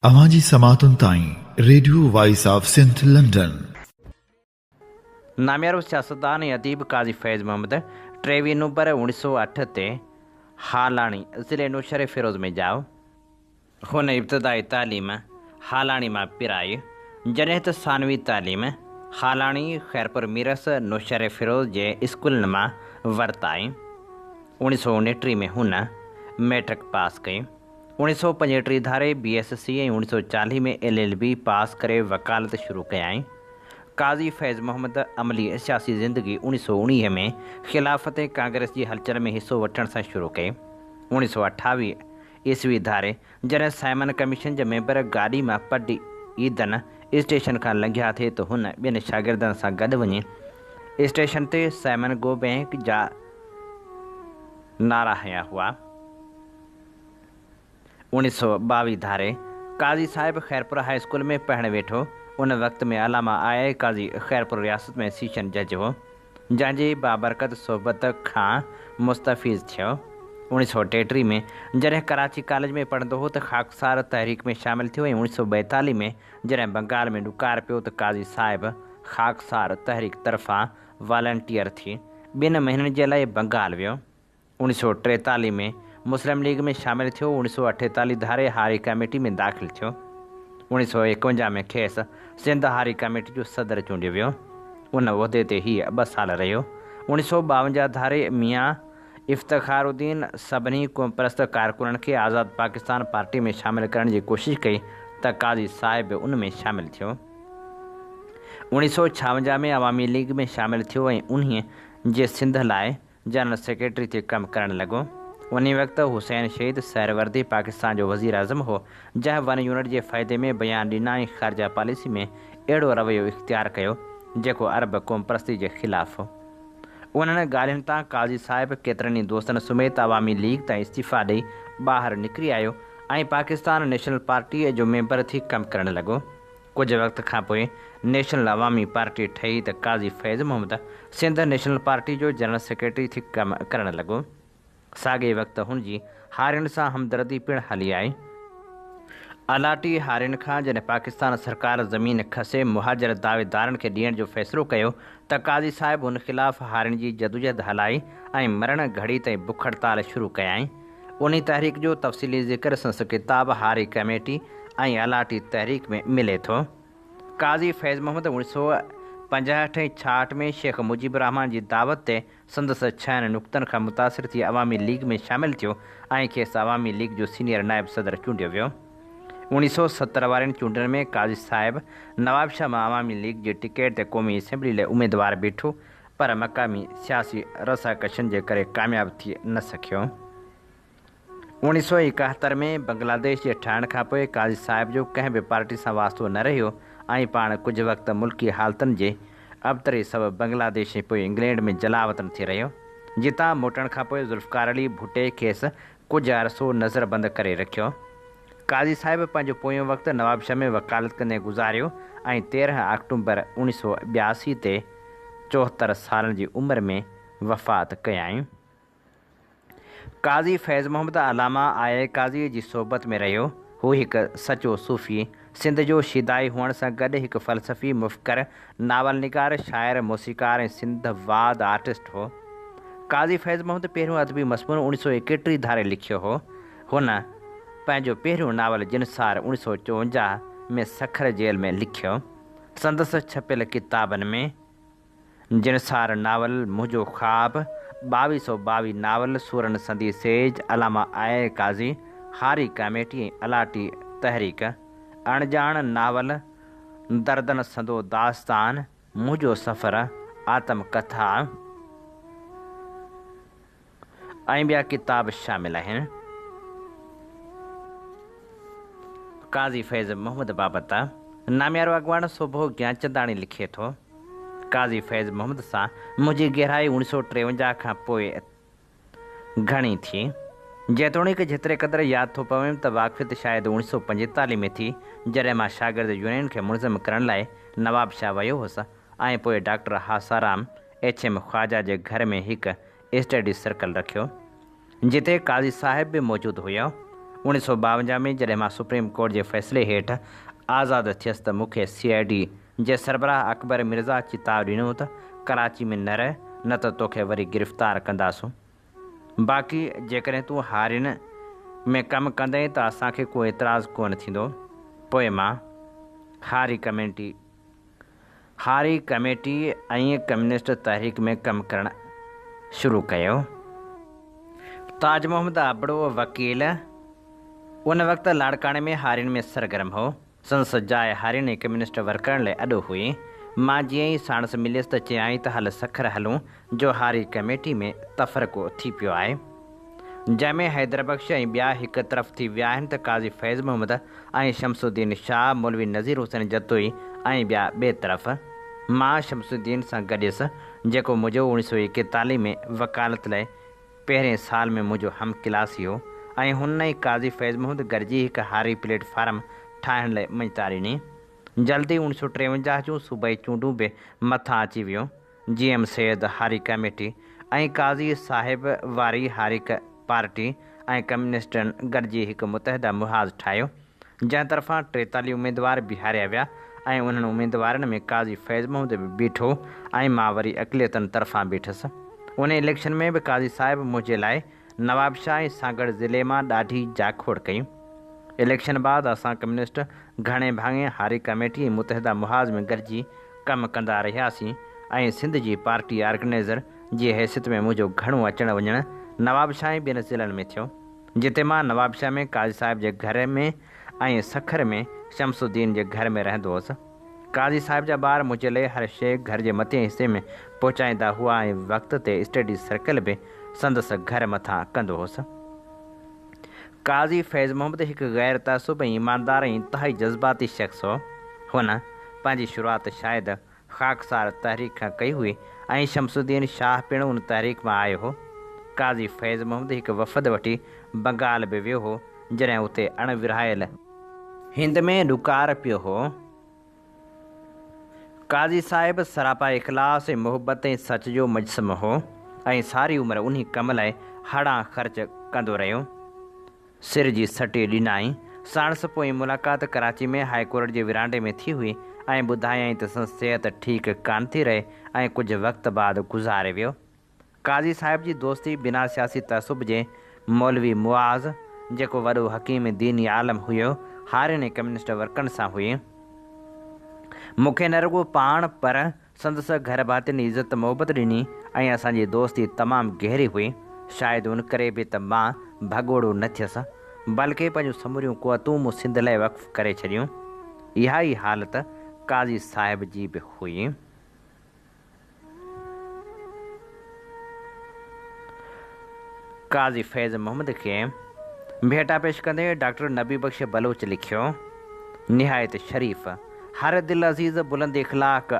اوهان جي سماعتن تائين radio voice of Sindh London. ناميارو سياستدان ۽ اديب قاضي فيض محمد ٽيويهه نومبر اوڻيهه سؤ اٺ تي هالاڻي، ضلعي نوشهري فيروز ۾ ڄائو. هن ابتدائي تعليم هالاڻي مان پرائي، جڏهن ته ثانوي تعليم هالاڻي، خيرپور ميرس، نوشهري فيروز جي اسڪولن مان ورتائين. اوڻيهه سؤ اڻٽيهه ۾ هن مئٽرڪ پاس ڪئي. اوڻيهه سؤ پنجهٽيهه ڌاري بي ايس سي ۽ اوڻيهه سؤ چاليهه ۾ ايل ايل بي پاس ڪري وڪالت شروع ڪيائين. قاضي فيض محمد عملي سياسي زندگي اوڻيهه سؤ اوڻيهه ۾ خلافت ۽ ڪانگريس جي هلچل ۾ حصو وٺڻ سان شروع ڪئي. اوڻيهه سؤ اٺاويهه عيسوي ڌاري جڏهن سائمن ڪميشن جا ميمبر گاڏي مان پڊ ايدن اسٽيشن کان لنگهيا ٿي ته هن ٻين شاگردن سان گڏ وڃي اسٽيشن تي سائمن گو بينڪ جا نعرا هنيا هئا. اوڻيھ سؤ ٻاويھ ڌاري قاضي صاحب خيرپور هاء اسڪول ۾ پڙهڻ ويٺو. ان وقت ۾ علامه آء آء قاضي خيرپور رياست ۾ سيشن جج هو، جنهن جي بابرڪت صحبت کان مستفيض ٿيو. اوڻيھ سؤ ٽيٽيھ ۾ جڏهن ڪراچي ڪاليج ۾ پڙهندو هو ته خاڪسار تحريڪ ۾ شامل ٿيو ۽ اوڻيھ سؤ ٻائيتاليھ ۾ جڏهن بنگال ۾ ڏڪار پيو ته قاضي صاحب خاڪسار تحريڪ طرفان والنٽيئر ٿي ٻن مهينن جي لاء بنگال ويو. اوڻيھ سؤ ٽيتاليھ ۾ مسلم ليگ ۾ شامل ٿيو، اوڻيھ سؤ اٺيتاليھ ڌاري هاري ڪاميٽي ۾ داخل ٿيو، اوڻيھ سؤ ايڪونجاھ ۾ کيس سنڌ هاري ڪاميٽي جو صدر چونڊيو ويو، ان عهدي تي هيء ٻه سال رهيو، اوڻيھ سؤ ٻاونجاھ ڌاري ميان افتخار الدين سڀني قومپرست ڪارڪنن کي آزاد پاڪستان پارٽي ۾ شامل ڪرڻ جي ڪوشش ڪئي ته قاضي صاحب به ان ۾ شامل ٿيو، اوڻيھ سؤ ڇاونجاھ ۾ عوامي ليگ ۾ شامل ٿيو ۽ انهيء جي سنڌ لاء جنرل سيڪريٽري ٿي ڪم ڪرڻ لڳو. انهي وقت حسين شهيد سهروردي پاڪستان جو وزيراعظم هو، جنهن ون يونٽ جي فائدي ۾ بيان ڏنا ۽ خارجه پاليسي ۾ اهڙو رويو اختيار ڪيو، جيڪو عرب قومپرستي جي خلاف هو. انهن ڳالهين تان قاضي صاحب ڪيترن ئي دوستن سميت عوامي ليگ تان استعيفيٰ ڏئي ٻاهر نڪري آيو ۽ پاڪستان نيشنل پارٽيء جو ميمبر ٿي ڪم ڪرڻ لڳو. ڪجهه وقت کان پوء نيشنل عوامي پارٽي ٺهي ته قاضي فيض محمد سنڌ نيشنل پارٽي جو جنرل سيڪريٽري ٿي ڪم ڪرڻ لڳو. ساڳئي وقت هن جي هارين سان همدردي پڻ هلي آئي. الاٽي هارين کان جڏهن پاڪستان سرڪار زمين کسي مهاجر دعويدارن کي ڏيڻ جو فيصلو ڪيو ته قاضي صاحب ان خلاف هارين جي جدوجهد هلائي ۽ مرڻ گهڙي تائين بک هڙتال شروع ڪيائين. انهي تحريڪ جو تفصيلي ذڪر سندس ڪتاب هاري ڪميٽي ۽ الاٽي تحريڪ ۾ ملي ٿو. قاضي فيض محمد اوڻيھ سئو پنجاهٺ ۽ ڇاهٺ ۾ شيخ مجيب الرحمان جي دعوت تي سندس ڇهن نقطن کان متاثر ٿي عوامي ليگ ۾ شامل ٿيو ۽ کيس عوامي ليگ جو سينيئر نائب صدر چونڊيو ويو. اوڻيھ سئو ستر وارين چونڊن ۾ قاضي صاحب نوابشاھ مان عوامي ليگ جي ٽڪيٽ تي قومي اسيمبلي لاء اميدوار بيٺو پر مقامي سياسي رساڪشين جي ڪري ڪامياب ٿي نه سگهيو. اوڻيھ سؤ ايڪاهتر ۾ بنگلاديش جي ٺهڻ کانپوء قاضي صاحب جو ڪنهن به پارٽي سان واسطو نه رهيو ۽ پاڻ ڪجهه وقت ملڪي حالتن جي ابتري سبب بنگلاديش ۽ پوء انگلينڊ ۾ جلاوطن ٿي رهيو، جتان موٽڻ کانپوء ذوالفقارعلي ڀٽي کيس ڪجهه عرصو نظربند ڪري رکيو. قاضي صاحب پنهنجو پويون وقت نوابشاهه ۾ وڪالت ڪندي گذاريو ۽ تيرهن آڪٽومبر اوڻيهه سؤ ٻياسي تي چوهتر سالن جي عمر ۾ وفات ڪيائين. قاضي فيض محمد علامه آء قاضيء جي صحبت ۾ رهيو. هو هڪ سچو صوفي، سنڌ جو شيدائي هئڻ سان گڏ هڪ فلسفي، مفڪر، ناول نگار، شاعر، موسيقار ۽ سنڌ واد آرٽسٽ هو. قاضي فيض محمد پهريون ادبي مضمون اوڻيهه سؤ ايڪٽيهه ڌاري لکيو هو. هن پنهنجو پهريون ناول جنسار اوڻيھ سؤ چوونجاھ ۾ سکر جيل ۾ لکيو. سندس ڇپيل ڪتابن ۾ جنسار ناول، منهنجو خواب، ٻاويھ سؤ ٻاويھ ناول، سورن سندي سيج، علامه آئي قاضي، هاري ڪاميٽي ۽ الاٽي تحريڪ، اڻڄاڻ ناول، دردن سندو داستان، منهنجو سفر، آتم ڪٿا، ۽ ٻيا ڪتاب شامل آهن. قاضي فيض محمد بابت ناميارو اڳواڻ سوڀو گيانچنداڻي لکي ٿو، قاضي فيض محمد سان منهنجي گهرائي اوڻي سو ٽيونجاهه کان پوء گهڻي ٿي، جيتوڻيڪ جيتري قدر ياد ٿو پويم ته واقفيت شايد اوڻي سو پنجيتالهه ۾ ٿي، جڏهن مان شاگرد يونين کي منظم ڪرڻ لاء نوابشاهه ويو هوس ۽ پوء doctor Hasaram H M Khawaja جي گهر ۾ هڪ اسٽڊيز سرڪل رکيو، جتي قاضي صاحب به موجود هيا. اوڻيهه سؤ ٻاونجاهه ۾ جڏهن مان سپريم ڪورٽ جي فيصلي هيٺ آزاد ٿيس ته مون کي سي آء ڊي جي سربراهه اڪبر مرزا چتاء ڏنو ته ڪراچي ۾ نه رهه نه ته توکي وري گرفتار ڪنداسون باقي جيڪڏهن تون هارين ۾ ڪم ڪندين ته اسان کي ڪو اعتراض ڪونه ٿيندو. پوء مان هاري ڪمينٽي هاري ڪميٽي ۽ ڪميونسٽ تحريڪ ۾ ڪم ڪرڻ شروع ڪيو. تاج محمد ابڙو وڪيل ان وقت لاڙڪاڻي ۾ هارين ۾ سرگرم هو. سندس جاء هارين ۽ ڪميونسٽ ورڪرن لاء اڏو هئي. مان جيئن ئي ساڻس مليس ته چيائين ته هل سکر هلون جو هاري ڪميٽي ۾ تفرقو ٿي پيو آهي. جنهن ۾ حيدربخش ۽ ٻيا هڪ طرف ٿي ويا آهن ته قاضي فيض محمد ۽ شمس الدين شاهه، مولوي نذير حسين جتوئي ۽ ٻيا ٻئي طرف. مان شمس الدين سان گڏيس، جيڪو منهنجو اوڻيهه سؤ ايڪيتاليهه ۾ وڪالت لئي پهرين سال ۾ منهنجو هم ڪلاسي هو ۽ هن ۽ قاضي فيض محمد گڏجي هڪ هاري پليٽ فارم ٺاهڻ لئي مڃتا ڏني. جلد ئي اوڻيهه سؤ ٽيونجاهه جون صوبائي چونڊون به مٿان اچي ويون. جي ايم سيد هاري ڪميٽي ۽ قاضي صاحب واري هاري پارٽي ۽ ڪميونسٽن گڏجي هڪ متحده محاذ ٺاهيو، جنهن طرفان ٽيتالهه اميدوار بيهاريا ويا ۽ انهن اميدوارن ۾ قاضي فيض محمد به بيٺو ۽ مان وري اقليتن طرفان بيٺس. انهي اليڪشن ۾ به قاضي صاحب منهنجي لاء نوابشاهه ۽ سانگهڙ ضلعي مان ڏاڍي جاکوڙ ڪئي. اليڪشن بعد اسان ڪميونسٽ گهڻي ڀاڱي هاري ڪميٽي ۽ متحده محاذ ۾ گڏجي ڪم ڪندا رهياسين ۽ سنڌ جي پارٽي آرگنائيزر جي حيثيت ۾ منهنجو گهڻو اچڻ وڃڻ نوابشاهه ۽ ٻين ضلعن ۾ ٿيو جتي مان نوابشاهه ۾ قاضي صاحب جي گهر ۾ ۽ سکر ۾ شمس الدين جي گهر ۾ رهندو هوس. قاضي صاحب جا ٻار منهنجي لئي هر شيء گهر جي مٿين حصي ۾ پهچائيندا هئا ۽ وقت تي اسٽڊي سرڪل به سندس گهر مٿان ڪندو هوس. قاضي فيض محمد هڪ غير تعصب ۽ ايماندار ۽ انتهائي جذباتي شخص هو. هن پنهنجي شروعات شايد خاڪسار تحريڪ کان ڪئي هئي ۽ شمس الدين شاهه پڻ ان تحريڪ مان آيو هو. قاضي فيض محمد هڪ وفد وٺي بنگال به ويو هو جڏهن اتي اڻ ورهايل، هند ۾ ڏڪار پيو هو. قاضي صاحب سراپا اخلاص ۽ محبت ۽ سچ جو مجسمو هو ۽ ساري عمر انهي ڪم لاء هڙان خرچ ڪندو رهيو. سر جي سٽي ڏنائين. ساڻس پوئين ملاقات ڪراچي ۾ هاء ڪورٽ جي ورانڊي ۾ ٿي هئي ۽ ٻڌايائين ته سندس صحت ٺيڪ ڪانه ٿي رهي ۽ ڪجهه وقت بعد گذاري ويو. قاضي صاحب جي دوستي بنا سياسي تعصب جي مولوي معاذ، جيڪو وڏو حڪيم ديني عالم هيو، هارين ۽ ڪميونسٽ ورڪن سان هئي. مون کي نه رڳو پاڻ پر سندس گهر ڀاتين عزت محبت ڏني ۽ اسان جي دوستي تمام گهري هئي. شايد ان ڪري به ته مان ڀڳوڙو نه ٿيس، بلڪه پنهنجون سموريون قوتون مون سنڌ لاء وقف ڪري ڇڏيون. اها ئي حالت قاضي صاحب جي به هئي. قاضي فيض محمد کي ڀيٽا پيش ڪندي ڊاڪٽر نبي بخش بلوچ لکيو، نهايت شريف، هر دل عزيز، بلند اخلاق،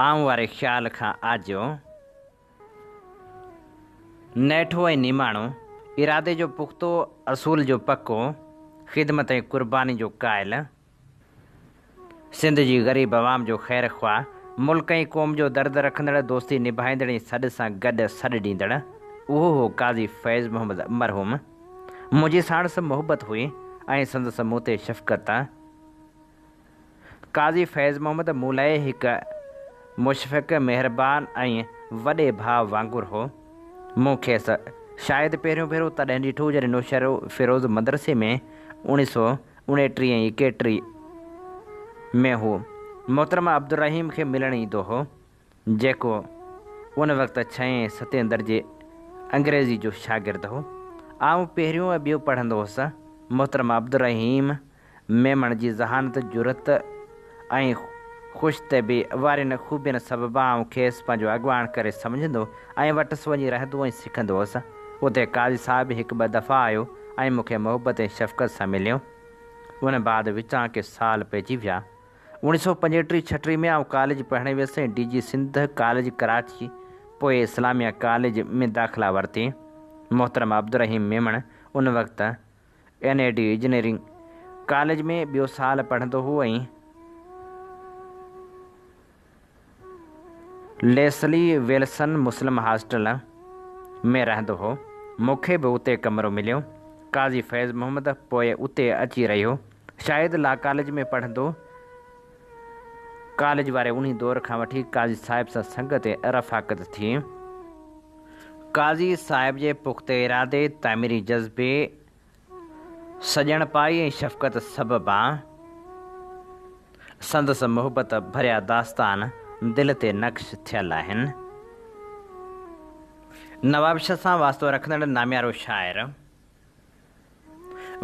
آئون واري خيال کان آجو، نيٺو ۽ نماڻو، ارادي جو پختو، اصول جو پڪو، خدمت ۽ قرباني جو قائل، سنڌ جي غريب عوام جو خير خواهه، ملڪ ۽ قوم جو درد رکندڙ، دوستي نڀائيندڙ ۽ سڏ سان گڏ سڏ ڏيندڙ اهو هو قاضي فيض محمد مرحوم. منهنجي ساڻس محبت هئي ۽ سندس مون تي شفقت. قاضي فيض محمد مون لاء هڪ مشفق، مهربان ۽ وڏي ڀاء وانگر هو. مون کيس شايد پهريون ڀيرو تڏهن ڏٺو جڏهن نوشهروفيروز مدرسي ۾ اوڻي سو اڻيٽري ۽ ايڪيٽري ۾ هو محترمه عبدالرحيم کي ملڻ ايندو هو، جيڪو ان وقت ڇهين ۽ ستين درجي انگريزي جو شاگرد هو. آئون پهريون ۽ ٻيون پڙهندو هوس. محترمه عبدالرحيم ميمڻ جي ذهانت، جرئت، ۽ خوش طبعي وارين خوبين سببان آئون کيس پنهنجو اڳواڻ ڪري سمجهندو ۽ وٽس وڃي رهندو ۽ سکندو هوس. اتي قاضي صاحب به هڪ ٻه دفعا آيو ۽ مون کي محبت ۽ شفقت سان مليو. ان بعد وچان ڪي سال پئجي ويا. اوڻي سو پنجهٽيهه ڇهٽيهه ۾ آئون ڪاليج پڙهڻ ويس ۽ D J Sindh college Karachi پوء اسلاميه ڪاليج ۾ داخلا ورتي. محترم عبدالرحيم ميمڻ ان وقت N E D engineering college ۾ ٻيو سال پڙهندو هو ۽ ليسلي ويلسن مسلم هاسٽل ۾ رهندو هو. مون کي به اتي ڪمرو مليو. قاضي فيض محمد پوء اتي اچي رهيو. شايد لا ڪاليج ۾ پڙهندو. ڪاليج واري انهي دور کان وٺي قاضي صاحب سان سنگت ۽ رفاقت ٿي. قاضي صاحب جي پخته ارادي، تعميري جذبي، سڄڻپائي ۽ شفقت سببان سندس محبت ڀريا داستان دل تي نقش ٿيل آهن. نوابشاهه سان واسطو رکندڙ ناميارو شاعر.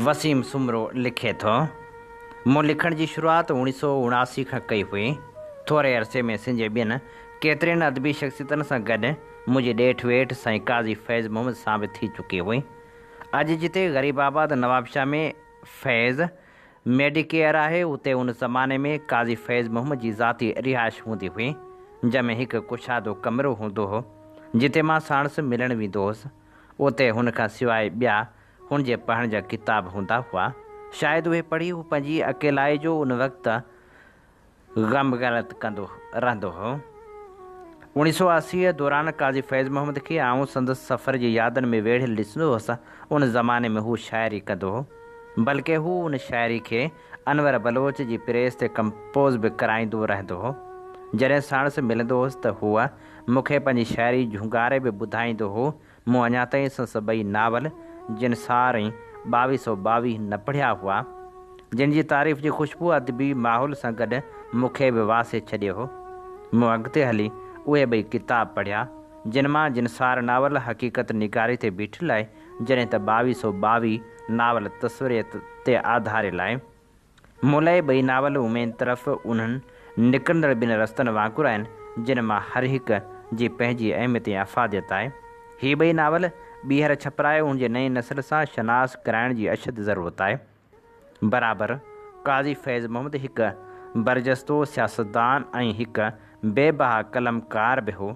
وسيم سومرو لکي ٿو، مون لکڻ جي شروعات اوڻيھ سؤ اڻاسي کان ڪئي هئي. ٿوري عرصي ۾ سنڌ جي ٻين ڪيترين ادبي شخصيتن سان گڏ منهنجي ڏيٺ ويٺ سائين قاضي فيض محمد سان به ٿي چڪي هئي. اڄ جتي غريب آباد نوابشاهه ۾ فيض ميڊيڪيئر آهي، اتي ان زماني ۾ قاضي فيض محمد جي ذاتي رهائش هوندي هئي، جنهن ۾ هڪ ڪشادو ڪمرو هوندو هو، جتي مان ساڻس ملڻ ويندو هوس. اتي هن کان سواء ٻيا هن جي پڙهڻ جا ڪتاب هوندا هئا، شايد اهي پڙهي هو پنهنجي اڪيلائي جو ان وقت غم غلط ڪندو رهندو هو. اوڻيهه سؤ اسي دوران قاضي فيض محمد کي آئون سندس سفر جي يادن ۾ ويڙهيل ڏسندو هوس، ان زماني ۾ هو شاعري ڪندو هو، بلڪه هو ان شاعري کي انور بلوچ جي پريس تي ڪمپوز به ڪرائيندو رهندو هو. جڏهن ساڻس ملندو هوس ته هوء مون کي پنهنجي شاعري جهونگاري به ٻڌائيندو هو. مون اڃا تائين سنس ٻئي ناول جن سار ۽ ٻاويهه سؤ ٻاويهه نه پڙهيا هئا، جن جي تعريف جي خوشبو ادبي ماحول سان گڏ مون کي به واسي ڇڏيو هو. مون اڳتي هلي اهي ٻئي ڪتاب پڙهيا، جن مان جن سار ناول حقيقت نگاري تي بيٺل آهي، جڏهن ته ٻاويهه سؤ ٻاويهه ناول تصوريت تي آڌاريل آهي. مولائي ٻئي ناول اميد طرف انهن نڪرندڙ ٻن رستن وانگر آهن، جن مان هر هڪ جي پنهنجي اهميت ۽ افاديت آهي. هي ٻئي ناول ٻيهر ڇپرائي ان جي نئين نسل سان شناس ڪرائڻ جي اشد ضرورت آهي. برابر قاضي فيض محمد هڪ برجستو سياستدان ۽ هڪ بي بها قلمڪار به هو،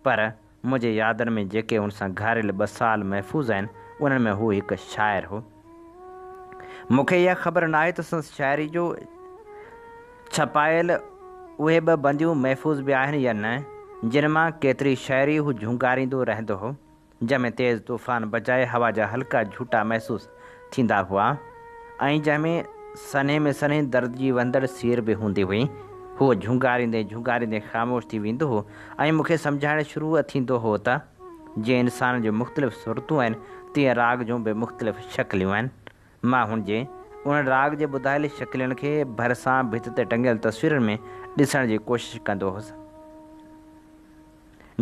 پر منهنجي يادن ۾ جيڪي هن سان گهاريل ٻه سال محفوظ آهن، انهن ۾ هو هڪ شاعر هو. مون کي اها خبر ناهي ته سندس شاعري جو ڇپايل اهي ٻه بنديون محفوظ به آهن يا نه، جن مان ڪيتري شاعري هو جهونگاريندو رهندو هو. جنهن ۾ تيز طوفان بجاء هوا جا هلڪا جهوٽا محسوس ٿيندا هئا ۽ جنهن ۾ سنهي ۾ سنهي درد جي وهندڙ سير به هوندي هئي. هو جهونگاريندي جهونگاريندي خاموش ٿي ويندو هو ۽ مون کي سمجهائڻ شروع ٿيندو هو ته، جيئن انسان جون مختلف صورتون آهن، تيئن راڳ جون به مختلف شڪليون آهن. مان هن جي انهن راڳ جي ٻڌايل شڪلين کي ڀرسان ڀت تي ٽنگيل تصويرن ۾ ڏسڻ جي ڪوشش ڪندو هوس.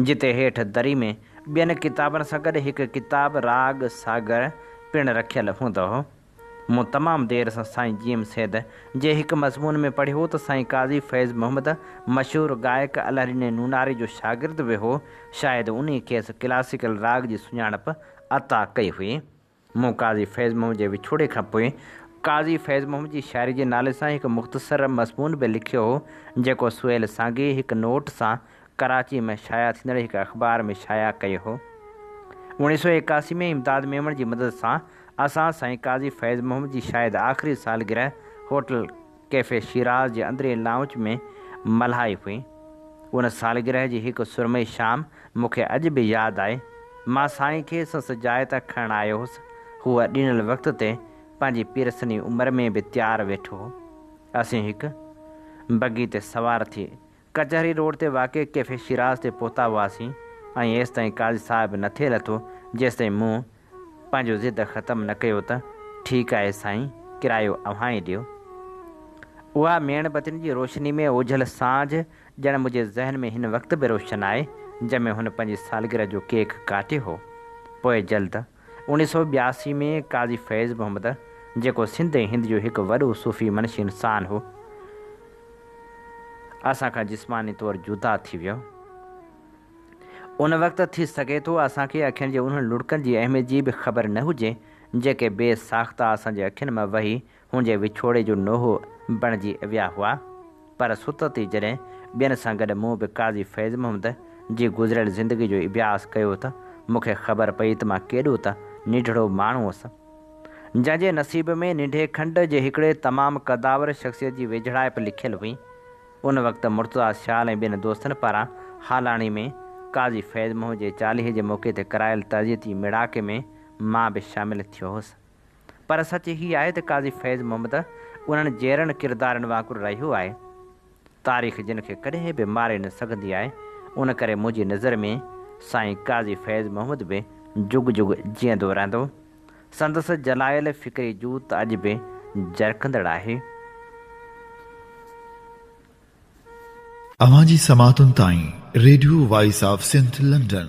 جتي هيٺ دري ۾ ٻين ڪتابن سان گڏ هڪ ڪتاب راڳ ساگر پڻ رکيل هوندو هو. مون تمام دير سان سائين جيم سيد جي هڪ مضمون ۾ پڙهيو ته سائين قاضي فيض محمد مشهور گائڪ الهرين نوناري جو شاگرد به هو، شايد انهي کيس ڪلاسيڪل راڳ جي سڃاڻپ عطا ڪئي هئي. مون قاضي فيض محمد جي وڇوڙي کان پوء قاضي فيض محمد جي شاعري جي نالي سان هڪ مختصر مضمون به لکيو هو، جيڪو سهيل سانگي هڪ نوٽ سان ڪراچي ۾ شايع ٿيندڙ هڪ اخبار ۾ شايع ڪيو هو. اوڻيهه سؤ ايڪاسي ۾ امداد ميمڻ جي مدد سان اسان سائين قاضي فيض محمد جي شايد آخري سالگرهه هوٽل ڪيفي شيراز جي اندرين لائونچ ۾ ملهائي هئي. ان سالگرهه جي هڪ سرمئي شام مون کي اڄ به ياد آهي. مان سائين کي سنس جاء تان کڻڻ آيو هوس. هو ڏنل وقت تي پنهنجي پيرسني عمر ۾ به تيار ويٺو هو. اسين هڪ بگي تي سوار ٿي ڪچهري روڊ تي واقع ڪيفي شيراز تي پهتا هئاسين ۽ ايستائين قاضي صاحب نه ٿي لٿو جيستائين مون پنهنجو ضد ختم نه ڪيو ته ٺيڪ آهي سائين ڪرايو اوهان ئي ڏيو. اها ميڻ بتين جي روشني ۾ اوجهل سانجهه ڄڻ منهنجي ذهن ۾ هن وقت به روشن آهي جنهن ۾ هن پنهنجي سالگرهه جو ڪيڪ ڪاٽيو هو. پوء جلد. اوڻيھ سؤ ٻياسي ۾ قاضي فيض محمد جيڪو سنڌ ۽ هند جو هڪ وڏو صوفي منشي انسان هو، اسان کان جسماني طور جدا ٿي ويو. ان وقت ٿي سگهي ٿو اسان کي اکين جي انهن لڙڪن جي اهميت جي به خبر نه هجي، جيڪي بي ساخته اسان جي اکين مان وهي هن جي وڇوڙي جو نوحو بڻجي ويا هئا، پر ست تي جڏهن ٻين سان گڏ مون به قاضي فيض محمد جي گذريل زندگي جو اڀياس ڪيو ته مون کي خبر پئي ته مان ڪيڏو ته نيڍڙو ماڻهو هوس، جنهن جي نصيب ۾ نيڍي کنڊ جي هڪڙي تمام قدآور شخصيت جي ويجهڙائپ لکيل هئي. ان وقت مرتضيٰ سيال ۽ ٻين دوستن پاران هالاڻي ۾ قاضي فيض محمد جي چاليهي جي موقعي تي ڪرايل تعزيتي ميڙاڪي ۾ مان به شامل ٿيو هوس. پر سچ هي آهي ته قاضي فيض محمد انهن جيئرن ڪردارن وانگر رهيو آهي. تاريخ جن کي ڪڏهن به ماري نه سگهندي آهي، ان ڪري منهنجي نظر ۾ سائين قاضي فيض محمد به جڳ جڳ جيئندو رهندو. سندس جلائل فڪري جوت اڄ به جرڪندڙ آهي. اوهان جي سماعتن تائين radio voice of Sindh London.